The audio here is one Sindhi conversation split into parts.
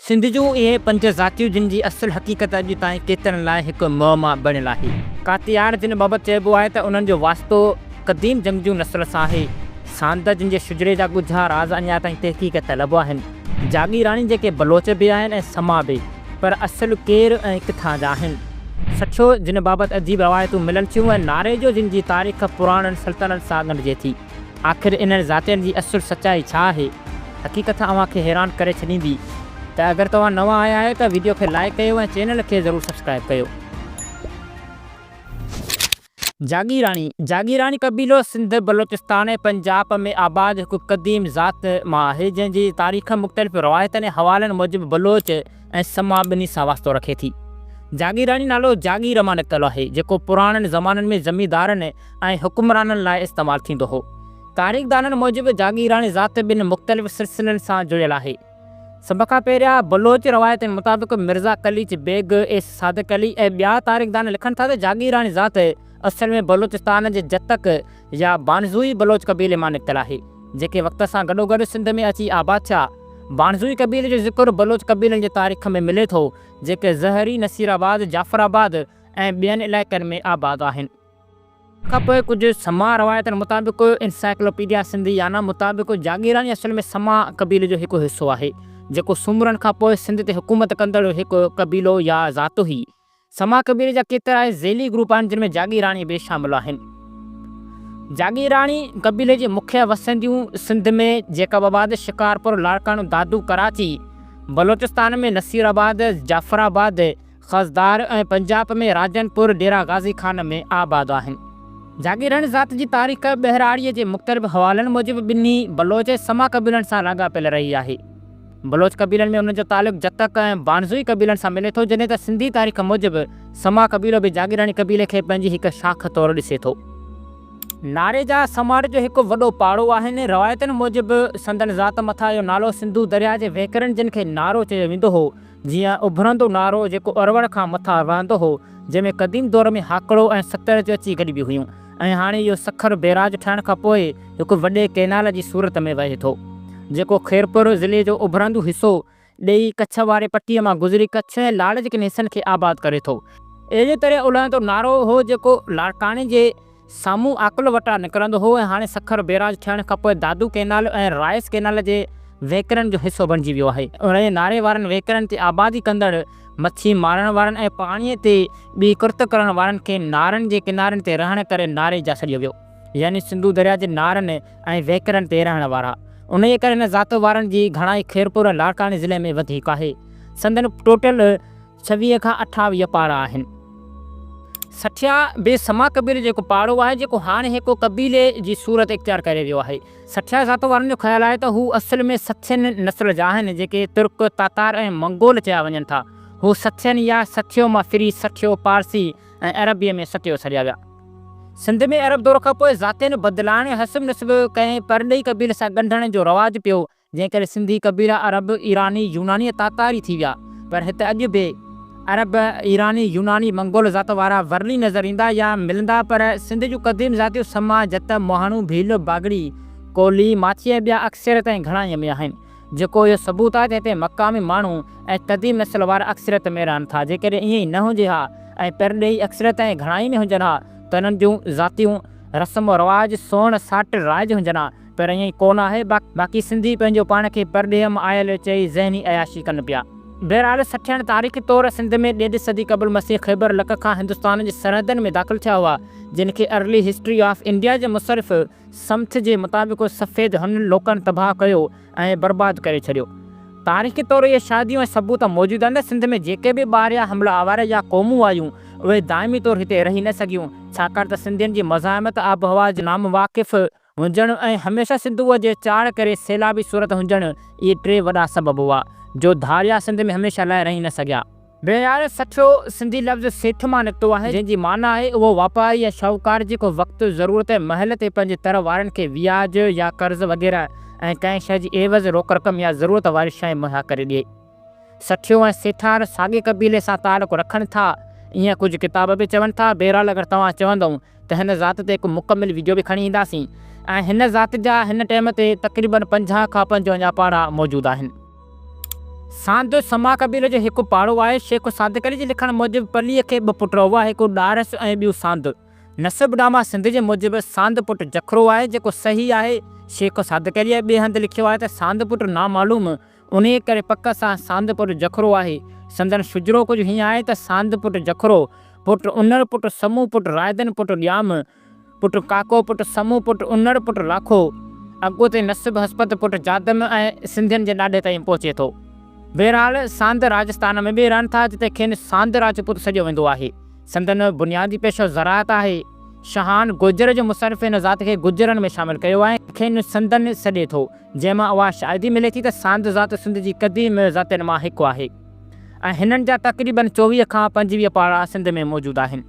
سنڌ جون اهي پنج ذاتيون جن جي اصل حقيقت اڄ تائين ڪيترن لاء هڪ معما بڻيل آهي. ڪاتياڻ جن بابت چئبو آهي ته انهن جو واسطو قديم جنگجو نسل سان آهي. سانده جن جي شجري جا ڳجها راز اڃا تائين تحقيق طلب آهن. جاگيراڻي جيڪي بلوچ به آهن ۽ سما به پر اصل ڪير ۽ ڪٿان جا آهن. سٺيو جن بابت عجيب روايتون ملن ٿيون ۽ ناريجو جن جي تاريخ پراڻن سلطنن سان ڳنڍجي ٿي. آخر انهن ذاتين جي اصل سچائي ڇا آهي؟ حقيقت اوهان کي حيران ڪري ڇڏيندي ته اگر توهان نوان آيا آهيو ته ويڊيو کي لائيڪ ڪيو ۽ چينل کي ضرور سبسڪرائيب ڪيو. جاگيراڻي، جاگيراڻي قبيلو سنڌ، بلوچستان ۽ پنجاب ۾ آباد هڪ قديم ذات مان آهي، جنهن جي تاريخ مختلف روايتن ۽ حوالن موجب بلوچ، ۽ سما ٻنهي سان واسطو رکي ٿي. جاگيراڻي نالو جاگير مان نڪتل آهي، جيڪو پراڻن زمانن ۾ زميندارن ۽ حڪمرانن لاء استعمال ٿيندو هو. تاريخدانن موجب جاگيراڻي ذات ٻن مختلف سلسلن سان جڙيل آهي. سڀ کان پهريان بلوچ روايتن مطابق مرزا قليچ بيگ ايس صادق علي ۽ ٻيا تاريخدان لکن ٿا ته جاگيراڻي ذات اصل ۾ بلوچستان جي جتڪ، يا بانزوئي بلوچ قبيلي مان نڪتل آهي، جيڪي وقت سان گڏوگڏ سنڌ ۾ اچي آباد ٿيا. بانزوئي قبيلي جو ذڪر بلوچ قبيلن جي تاريخ ۾ ملي ٿو، جيڪي زهري، نصيرآباد، جعفرآباد ۽ ٻين علائقن ۾ آباد آهن. ان کان پوء ڪجهه سماء روايتن مطابق انسائيڪلوپيڊيا سنڌيانا مطابق جاگيراني اصل ۾ سماء قبيلي جو هڪ حصو آهي، جيڪو سومرن کان پوء سنڌ تي حڪومت ڪندڙ هڪ قبيلو يا ذات هئي. سما قبيلي جا ڪيترائي ذيلي گروپ آهن جن ۾ جاگيراڻي به شامل آهن. جاگيراڻي قبيلي جي مکيه وسنديون سنڌ ۾ جيڪب آباد، شڪارپور، لاڙڪاڻو، دادو، ڪراچي، بلوچستان ۾ نصير آباد، جعفر آباد، خضدار ۽ پنجاب ۾ راجن پور، ڊيرا غازي خان ۾ آباد آهن. جاگيراڻي ذات جي تاريخ ٻهراڙيء جي مختلف حوالن موجب ٻنهي بلوچ ۽ سما قبيلن سان لاڳاپيل رهي آهي. بلوچ قبيلن ۾ انهن جو تعلق جتڪ ۽ بانزوئي قبيلن سان ملي ٿو، جڏهن ته سنڌي تاريخ موجب سما قبيلو به جاگيراڻي قبيلي کي پنهنجي هڪ شاخ طور ڏسي ٿو. ناريجا سماٽ جو هڪ وڏو پاڙو آهن. روايتن موجب سندن ذات مٿان اهو نالو سنڌو درياء جي وهڪرن جن کي نارو چيو ويندو هو، جيئن اڀرندو نارو جيڪو اروڙ کان مٿان وهندو هو، جنهن ۾ قديم دور ۾ هاڪڙو ۽ ستر جو اچي گڏبيون هيون. ۽ هاڻي اهو سکر بيراج ٺهڻ کان پوء هڪ وڏي ڪئنال جي صورت ۾ وهي ٿو، جيڪو خيرپور ضلعي جو اڀرندو حصو ڏيئي ڪڇ واري پٽي مان گذري ڪڇ ۽ لاڙ جي ڪن حصن کي آباد ڪري ٿو. اهڙي طرح الهندو نارو هو جيڪو لاڙڪاڻي جي سامهون آڪل وٽان نڪرندو هو ۽ هاڻي سکر بيراج ٺهڻ کان پوء دادو ڪئنال ۽ رائس ڪئنال جي وهڪرن جو حصو بڻجي ويو آهي. انهيء ناري وارن وهڪرن تي آبادي ڪندڙ مڇي مارڻ وارن ۽ پاڻيء تي ٻي ڪرت ڪرڻ وارن کي نارن جي ڪنارن تي رهڻ ڪري ناري جا سڏيو ويو. يعني سنڌو درياء جي نارن ۽ وهڪرن تي رهڻ وارا. انهيء ڪري هن ذات وارن جي گهڻائي خيرپور ۽ لاڙڪاڻي ضلعي ۾ وڌيڪ آهي. سندن ٽوٽل ڇويهه کان اٺاويهه پاڙا آهن. سٺيا بي سما قبيلي جو هڪ پاڙو آهي، جيڪو هاڻي هڪ قبيلي جي صورت اختيار ڪري ويو آهي. سٿيا ذات وارن جو خيال آهي ته هو اصل ۾ سٿين نسل جا آهن، جيڪي ترڪ، تاتار ۽ منگول چيا وڃن ٿا. هو سٿين يا سٿيو مان ڦري سٺيو، پارسي ۽ عربيء ۾ ستيو سڏيا ويا. سنڌ ۾ عرب دور کانپوء ذاتين بدلائڻ، حسب نسب ڪنهن پرڏيهي قبيلي سان ڳنڍڻ جو رواج پيو، جنهن ڪري سنڌي قبيلا عرب، ايراني، يوناني ۽ تاتاري ٿي ويا. پر هت اڄ به. عرب، ايراني، يوناني، منگول ذات وارا ورلي نظر ايندا يا ملندا پر سنڌ جون قديم ذاتيون سما، جت، مهاڻو، ڀيل، باگڙي، ڪولهي، ماڇي ۽ ٻيا اڪثريت ۽ گهڻائيء ۾ آهن. جيڪو اهو ثبوت آهي ته هتي مقامي ماڻهو ۽ قديم نسل وارا اڪثريت ۾ رهن ٿا. جيڪڏهن ائين ئي نه هجي ها ۽ پرڏيهي اڪثريت ۽ گهڻائي ۾ هجن ها ته انهن جون ذاتيون رسم و رواج، سوڻ ساٽ رائج هجن ها. پر ائين ڪو نه آهي، باقي سنڌي پنهنجو پاڻ کي پرڏيهه مان آيل چئي ذهني عياشي ڪن پيا. بهرحال سٺياڻ تاريخي طور سنڌ ۾ ڏيڍ صدي قبل مسيح خيبر لڪ کان هندستان جي سرحدن ۾ داخل ٿيا هئا، جن کي ارلي هسٽري آف انڊيا جي مصرف سمٿ جي مطابق سفيد هن لوڪن تباهه ڪيو ۽ برباد ڪري ڇڏيو. تاريخي طور اهي شاهديون ۽ ثبوت موجود آهن ته سنڌ ۾ جيڪي به ٻاهريان حمله آور يا قومون آيون، اهي دائمي طور هتي رهي نه سگهيون، ڇاڪاڻ ته سنڌين جي مزاحمت آبهوا جي نامواقف، هجڻ ۽ هميشه سنڌوء جي چاڙهه ڪري سيلابي صورت هجڻ اهي ٽي وڏا سبب هئا، جو ڌاريا سنڌ ۾ هميشه لاء رهي نه سگهيا. بهرحال سٺيو سنڌي لفظ سيٺ مان نڪتو آهي، جنهن جي معنيٰ آهي اهو واپاري يا شاهوڪار جيڪو وقت ضرورت ۽ مهل تي پنهنجي تر وارن کي وياج يا قرض وغيره ۽ ڪنهن شيء جي عيوض روڪ رقم يا ضرورت واري شيء مهيا ڪري ڏئي. سٺيو ۽ سيٺار ساڳئي قبيلي سان تعلق رکن ٿا ائين ڪجهه ڪتاب به چون ٿا بهرحال اگر توهان چوندئون ته هن ذات تي هڪ مڪمل ويڊيو به کڻي اينداسين ۽ هن ذات جا هن ٽيم تي تقريبن پنجاهه کان پنجونجاهه پاڙا موجود آهن. ساندو سما قبيلي جو هڪ پاڙو آهي شيخ صادق علي جي لکڻ موجب پليء کي ٻه پٽ هئا هڪ ڏارس ۽ ٻيو ساندو نسب ڊاما سنڌ جي موجب ساند پٽ جکرو آهي جيڪو صحيح آهي شيخ صادق عليء ٻئي هنڌ لکيو آهي ته ساند پٽ نامعلوم انهيء ڪري پڪ سان ساند پٽ جکرو آهي. سندن شجرو ڪجهه هيئن آهي ته ساند پٽ جکرو، پٽ انڙ، پٽ سمون، پٽ رائدن، پٽ ڄام، پٽ ڪاڪو، پٽ سمون، پٽ انڙ، پٽ لاکو، اڳوتي نسب هسپت پٽ جادم ۽ سنڌين جي ڏاڍي تائين پهچي ٿو. بهرحال ساند راجستان ۾ به رهن ٿا جتي کين ساند راجپوت سڏيو ويندو آهي. سندن بنيادي پيشو زراعت آهي. شاهان گوجر جي مصنف هن ذات کي گجرن ۾ شامل ڪيو ۽ کين سندن سڏي ٿو. جنهن مان اها شاهدي ملي ٿي ته ساند ذات سنڌ جي قديم ذاتين مان هڪ آهي ۽ هنن جا تقريباً چوويهه کان پنجويهه پاڙا سنڌ ۾ موجود آهن.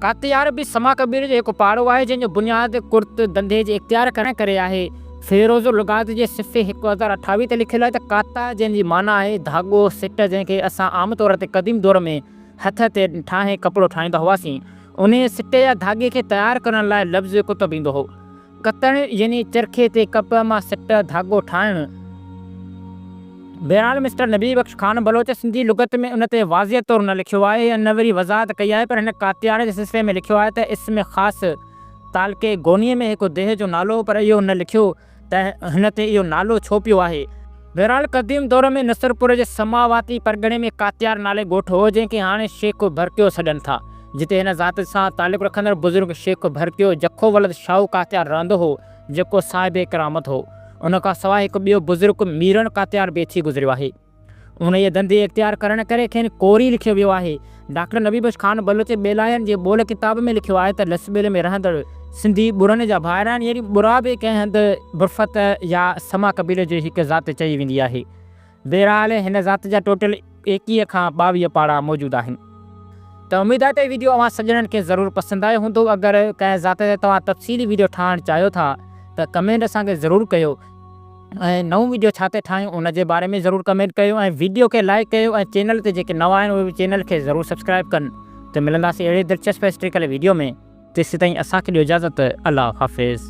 ڪاتيار به سما قبيلي جو هڪ پاڙو آهي، جنهن جو بنياد ڪرت دنڌي جي اختيار ڪرڻ ڪري آهي. فيروز اللغات جي صفحي هڪ هزار اٺاويهه تي لکيل آهي ته ڪاتا جنهن جي معنيٰ آهي ڌاڳو، سٽ، جنهن کي اسان عام طور تي قديم دور ۾ هٿ تي ٺاهي ڪپڙو ٺاهيندا هئاسين، انهيء سٽي يا ڌاڳي کي تيار ڪرڻ لاء لفظ ڪتب ايندو هو. ڪتڻ يعني چرخي تي ڪپهه مان سٽ، ڌاڳو، ٺاهڻ. بهرحال مسٽر نبي بخش خان بلوچ سنڌي لغت ۾ ان تي واضح طور نه لکيو آهي ۽ نه وري وضاحت ڪئي آهي پر هن ڪاتياڻي جي سلسلي ۾ لکيو آهي ته اسم خاص تعلقي گونيء ۾ هڪ ديهه جو نالو هو پر اهو نه لکيو ته هن تي اهو نالو ڇو پيو آهي. بهرحال قديم دور ۾ نصرپور جي سماواتي پرڳڻي ۾ ڪاتيار نالي ڳوٺ هو جنهن کي هاڻي شيخو ڀرڪيو سڏن ٿا. جتي هن ذات سان تعلق رکندڙ بزرگ شيخ ڀرڪيو جکو ولد شاهو ڪاتيار رهندو هو، جيڪو صاحب ڪرامت هو. ان کان سواء هڪ ٻيو بزرگ ميرڻ ڪاتيار به ٿي گذريو آهي. انهيء ڌنڌي اختيار ڪرڻ ڪري کين ڪوري لکيو ويو آهي. ڊاڪٽر نبي بخش خان بلوچ ٻيلاين جي ٻول ڪتاب ۾ لکيو آهي ته لس ٻيلي ۾ رهندڙ سنڌي ٻرن جا ڀائر آهن يعني ٻرا به ڪنهن هنڌ برفت يا سما قبيلي جي هڪ ذات چئي ويندي آهي. بهرحال هن ذات جا ٽوٽل ايڪيهه کان ٻاويهه پاڙا موجود آهن ته اميد آهي ته هي ويڊيو اوهان سڄڻن کي ضرور پسند آيو هوندو اگر ڪنهن ذات تي توهان تفصيلي ويڊيو ٺاهڻ چاهيو ٿا ته ڪمينٽ اسان کي ضرور ڪيو ۽ نئون ويڊيو ڇا تي ٺاهيون ان جي باري ۾ ضرور ڪمينٽ ڪيو ۽ ويڊيو کي لائيڪ ڪيو ۽ چينل تي جيڪي نوان آهن اهي به چينل کي ضرور سبسڪرائيب ڪن ته ملنداسين اهڙي دلچسپ هسٽريڪل ويڊيو ۾ تيسيتائين اسان کي ڏيو اجازت الله حافظ.